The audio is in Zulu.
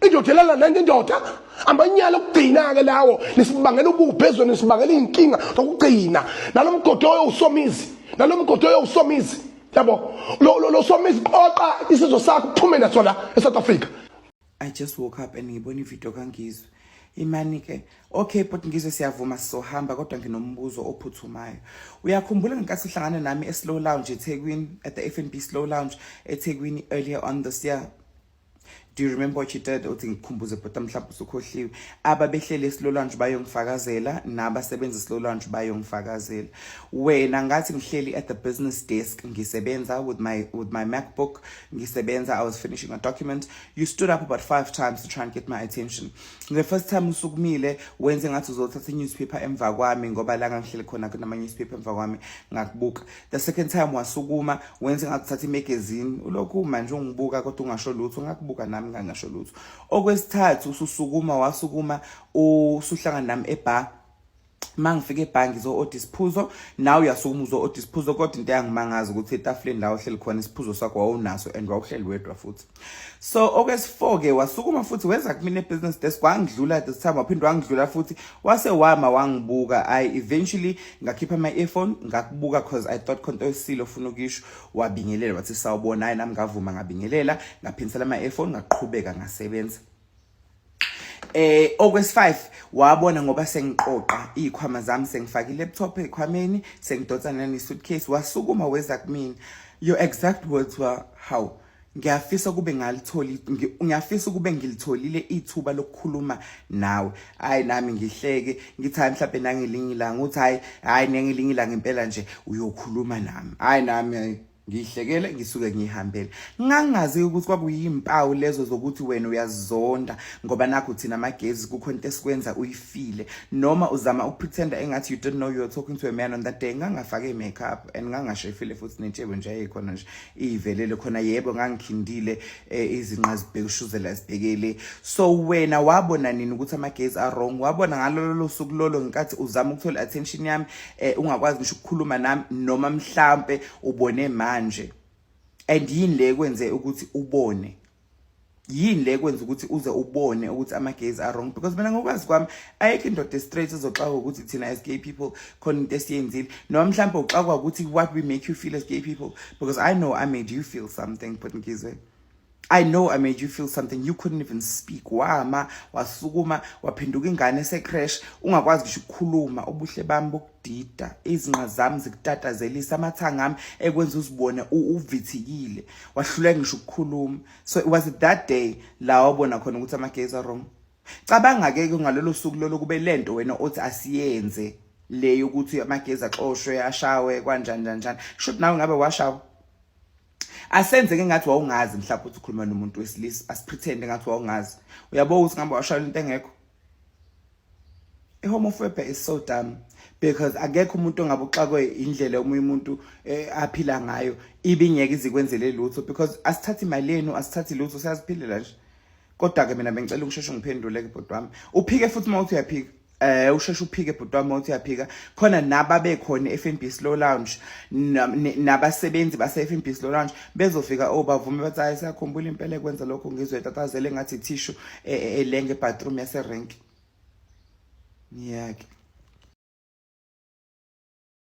indoda elala nenye indoda amanyala okugcina-ke lawo nisibangela ububhe ezweni nisibangela iy'nkinga zokugcina nalo mgodi oyowusomizi nalo mgodi oyowusomizi yabo lo somizi qoqa isizwe sakho kuphume naso la e-south africa i just woke up and ngibona ividiyo kangizwe imani ke okay bhuti ngizwe siyavuma sizohamba kodwa nginombuzo ophuthumayo uyakhumbula ngenkathi uhlangana nami e-slow lounge ethekwini at the f n b slow lounge ethekwini earlier on this year do you remember what you did uthi ngikhumbuze bhuti mhlawumbe usukhohliwe ababehlele esilolanje bayongifakazela nabasebenza esilolanje bayongifakazela wena ngathi ngihleli at the business desk ngisebenza with my with my macbook ngisebenza i was finishing a document you stood up about five times to try and get my attention the first time usukumile wenze ngathi uzothatha i-newspaper emva kwami ngoba la ngangihleli khona kunama-newspaper emva kwami ngakubuka the second time wasukuma wenze ngakuthatha imagazine ulokhu manje ungibuka kodwa ungasho lutho ngakubuka nami ngangasho lutho okwesithathu ususukuma wasukuma usuhlangana nami ebar mangifika ebhangi zo order isiphuzo nawe uyasukuma uzo order isiphuzo kodwa into yangimangaza ukuthi etafuleni la ohleli khona isiphuzo sakho wawunaso and wawuhleli wedwa futhi so okwesifoke wasukuma futhi weza kumina ebusiness desk wangidlula this time waphinde wangidlula futhi wase wama wangibuka i eventually ngakhipha my earphone ngakubuka cause i thought khonto esilo ufuna ukisho wabingelela wathi sawubona hayi nami ngavuma ngabingelela ngaphinsela my earphone ngaqhubeka ngasebenza eh okwesi 5 wabona ngoba sengiqoqa izikhwama zami sengifaka ilaptop ekhwameni sengidonsa nani suitcase wasukuma weza kumina your exact words were how ngiyafisa kube ngalitholi ngiyafisa ukube ngilitholile ithuba lokukhuluma nawe hayi nami ngihleke ngithi hayi mhlawumbe nangelinye ilanga uthi hayi hayi nangelinye ilanga impela nje uyokhuluma nami hayi nami ngihlekele ngisuke ngihambele ngangazi ukuthi kwakuyimpawu lezo zokuthi wena uyazonda ngoba nakho thina amagezi kukho into esikwenza uyifile noma uzama ukupretenda engathi you don't know you're talking to a man on that day ngangafake makeup and ngangashefile futhi nentshebo nje ayikhona nje iyivelele khona yebo ngangikhindile eh, izinqa zibhekushuzela zibhekele so wena wabona nini ukuthi amagezi are wrong wabona ngalolo suku lolo ngenkathi uzama ukuthola attention yami eh ungakwazi ngisho ukukhuluma nami noma mhlambe ubone manje and yini le kwenze ukuthi ubone yini le kwenza ukuthi uze ubone ukuthi ama gays are wrong because mina ngokwazi kwami ayikho indoda straight ezoxaka ukuthi thina as gay people khona into esiyenzile noma mhlawumbe uxakwa ukuthi what we make you feel as gay people because i know i made you feel something but ngizwe I know I made you feel something you couldn't even speak wama wasukuma waphenduka ingane secrash ungakwazi ngisho ukukhuluma ubuhle bami bokudida izinqa zami zikutatazelisa amathanga ami ekwenza uzibone uvithikile wahluleka ngisho ukukhuluma so it was that day la wabona khona ukuthi amagezi wrong cabanga ke ngalolo suku lolo kube lento wena othi asiyenze le yokuthi amagezi axoshwe ashawe kwanjani kanjani should nawe ngabe washawa asenze ke ngathi wawungazi mhlawumbe ukuthi ukhuluma nomuntu wesilisa asipretend ngathi wawungazi uyabo ukuthi ngamba washayela into engekho ihomophobia is so dumb because akekho umuntu ongabe uxakwe indlela omunye umuntu eh, aphila ngayo ibingeke izikwenzele lutho because asithathi imali yenu asithathi lutho siyaziphilela nje kodwa ke mina bengicela ukusheshe ngiphendule ke bhodwa wami uphike futhi uma uthi uyaphika eh usheshe uphike bhuti wami uthi uyaphika khona naba bekhona eFNB Slow Lounge nabasebenzi base FNB Slow Lounge bezofika obavume oh, bathi hayi sakhumbula impela ekwenza lokho ngizwe tatazele ngathi tissue e, e, elenge bathroom yase rank ngiyake